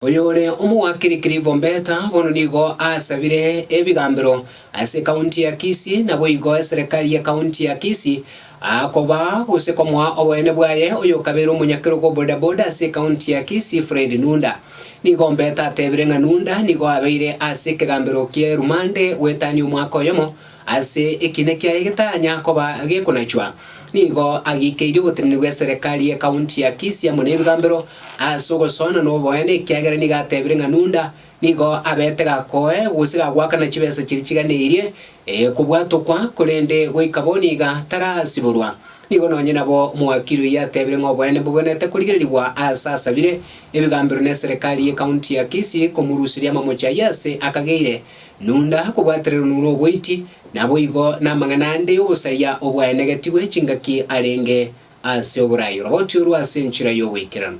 Oyore omogwakiri Clivombeta bono nigo asabire ebigambero ase ekaunti ya Kisii naboigo eserekari y'ekaunti ya Kisii akoba gose komoa oboene bwaye oyokabeire omonyakerogo o bodaboda ase ekaunti ya Kisii Fred Nunda. Nigo Ombeta atebire ng'a Nunda nigo abeire ase ekegambero kie rumande goetania omwaka oyomo Ase ekiina kiaye getanya koba gekonachwa, nigo agiikeirie oboteneni bw'eserekari ye kaunti ya Kisii amo nebigambero ase ogosoana noboene ekiagera nigo atebire ng'a Nunda nigo abete gakoe gose gagoakana chibesa chiria chiganeirie kobwatokwa korende goika bono iga tarasiborwa. Nigo nonye nabo omowakiri oyio atebire ng'a oboene mbobwenerete korigererigwa ase asabire ebigambero neserekari ye kaunti ya Kisii komoruseria amamochi ayio ase akageire Nunda kobwatererwa noro oboiti, naboigo namang'ana ande y'obosaria obwaenegetigwe chingaki arenge ase oboraai oroboti orwo ase enchera y'ogoikeranu.